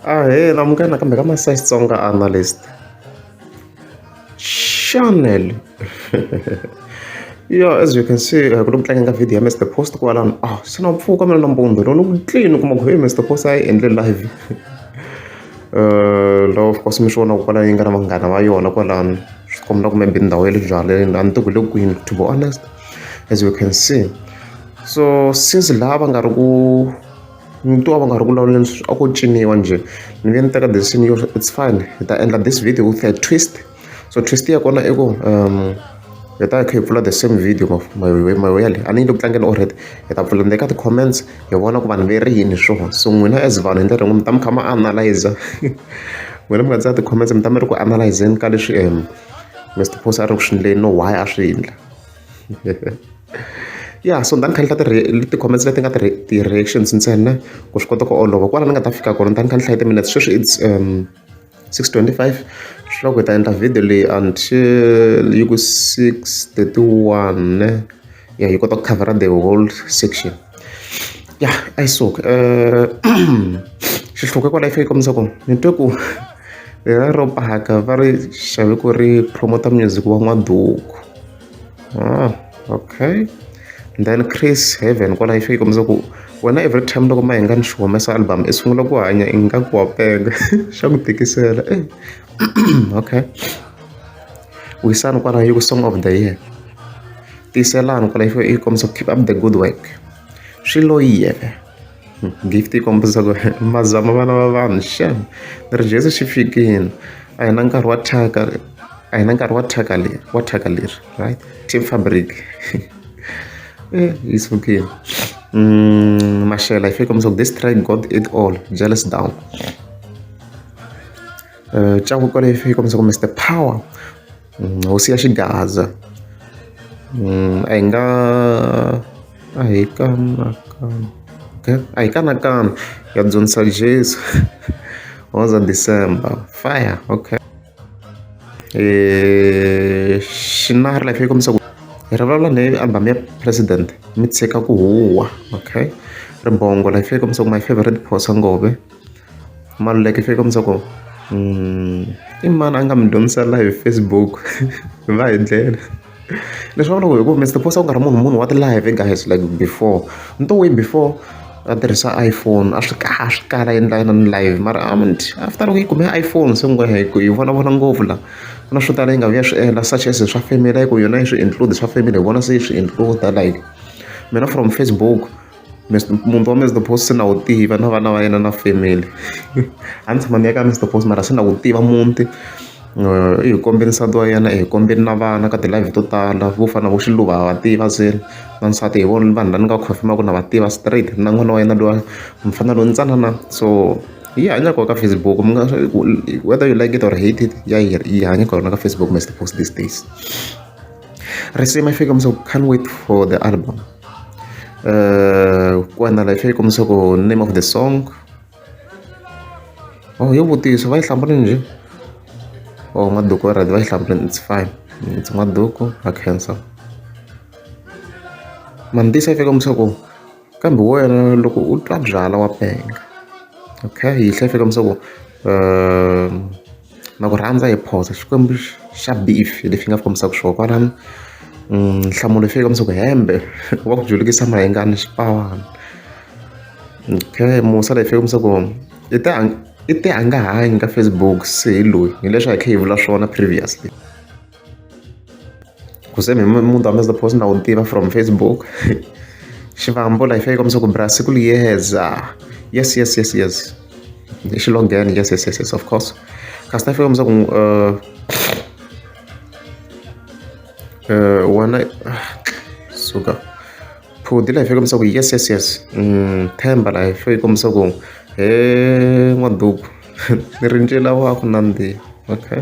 Ahee munghana kambe ka ma size Xitsonga analyst channel ya as you can see ku ri ku tlangela video ya Mister Post kwalano a se na mpfhuka mina nampundzu lowu ni ku clean u kuma ku heyi Mister Post a yi endle live la of course mi swi vona ku kwala yi nga na vanghana va yona kwalano swi kombela kumbe be ndhawu ya le byaleni a ni tiku le kwini to be honest as you can see so since laha va nga ri ku Ni twa va karhi va vulavula leswi a ko ciniwa njhe ni nge ni teka decision yo it's fine hi ta endla this video with a twist so twist ya kona i ku hi ta kha hi pfula the same video mavuyelo a ni yi le ku tlangeni already hi ta pfula le ka ti-comments hi vona ku vanhu ve ri yini hi swona so n'wina as vanhu hi ndlela yin'we mi ta mi kha mi analyser n'wina mi nga tsala ti-comments mi ta mi ri ku analyse-zeni ka leswi Mister Boss a ri ku swi endleni no why a swi endla. ya so ni ta ni kha ni hla ti-comments leti nga ti-reactions ntsena ku swi kota ku olova kwala ni nga ta fika kona ni ta ni kha ni hlaya ti-minutes sweswi it's um six twenty five swi loko hi ta endla video leyi until yi ku six thirty one ya yi kota ku covera the whole section ya i so uh, xihluke kwala yi fike kombisa ku ni twe ku lera ro paka va ri xave ku ri promoter music wa n'waduku ah, okay then chris heaven kwalaho swi yi kombisa ku wena every time loko ma hinga ni xi humesa album i sungula ku hanya i nga ku wa penga xa ku tikisela eh. okay wisani kwalaho yi ku song of the year tiyiselani kwalaho yi kombisa ku keep up the good work swi loyiyeke gift yi kombisa ku mazama vana va vanhu xem ni ri jesu xi fikile a hi na nkarhi wa thyaka a hi na nkarhi wa thyaka leri wa thyaka leri right team fabric eh, yi sukile mm, maxela yi fike kombisa ku this try god it all jealous down uh, eh, tyaku kwale yi fike kombisa ku mr power mm, hosi ya xigaza mm, a hi nga a hi kanakana a hi kanakana ya dyondzisa jesu was on december fire okay eh, xinari life yi kombisa ku hi ri vulavula ni album ya president mi tshika ku huwa okay ribongo life yi kombisa ku my favorite phosa ngove Maluleke swi kombisa ku i mani a nga mi dyondzisa live Facebook va hi dlele leswi vulaka ku hi ku Mister Boss a ku nga ri munhu munhu wa ti-live guys like before ni to way before a tirhisa iPhone a swi kala a swi kala a endla inana live mara after loko yi kume iPhone se ngopfu hi ku yi vonavona ngopfu la ku na swo tala yi nga vuya swi endla such as swa family a yi ku yona yi swi include swa family hi vona se yi swi include like mina from Facebook. munhu wa Mister Boss se na wu tiva na vana va yena na family a ni tshama ni ya ka Mister Boss mara se na wu tiva muti i hi kombe nsati wa yena i hi kombe na vana ka ti-live to tala vo fana na vo Xiluva ha va tiva se na nsati hi vona vanhu lava ni nga confirm-aka na va tiva straight na n'wana wa yena luya mufana loyi ntsanana so yi hanya kona ka Facebook mi nga whether you like it or hate it ya yi yi hanya kona ka Facebook Mister Boss these days risimu i fika mi se ku can't wait for the album. Uh, kuwa na life yi kombisa ku name of the song oh yo vutiso va yi hlambule njhe oh maduku already va yi hlambule it's fine it's maduku a cancer mandisa yi fika kombisa ku kambe wena loko u twa byala wa penga okay yi hlaya yi fika kombisa ku um Na ku rhandza hi phoso Xikwembu xa beef hi lexi nga kombisaka xona kwalano nhlamulo xi kombisa ku hembe wa ku julukisa mahengani xipavana okay musa lexi kombisa ku i ta i tihangahanyi ka Facebook se hi loyi hileswi a hi kha hi vula swona previously. ku se muti wa mina post na wu tiva from facebook xivambo la yi fika yi kombisa ku bra siku liyeza yes yes yes yes i xilongheni yes yes yes yes of course kasi ta fika kombisa ku uh, uh, wena suka phudi la yi fika kombisa ku yes yes yes mm, themba la yi fika yi kombisa ku he n'waduku ni rinjela wa ku nandziha okay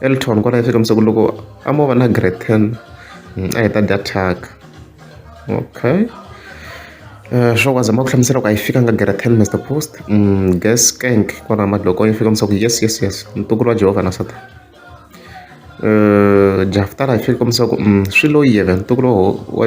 Elton kwala yi fika ku loko a mo va na grade ten mm, a hi ta dya thyaka okay eh, swo kwaza ma ku hlamusela ku a yi fikanga grade ten mr post mm, gas kank kwala madloko yi fika ku yes yes yes ntukulu wa jehovha na satan eh, jaftala yi fika ku mm, swi loyiye ve ntukulu wa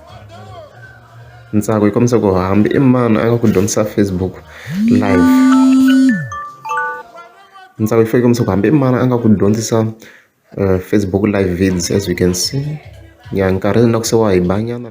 ntsako yi kombisa ku hambi i mani a nga ku dyondzisa facebook live ntsako yi fike kombisa ku hambi i mani a nga ku dyondzisa eh, facebook live vids as you can see ya nkarhi na ku se wa hi banyana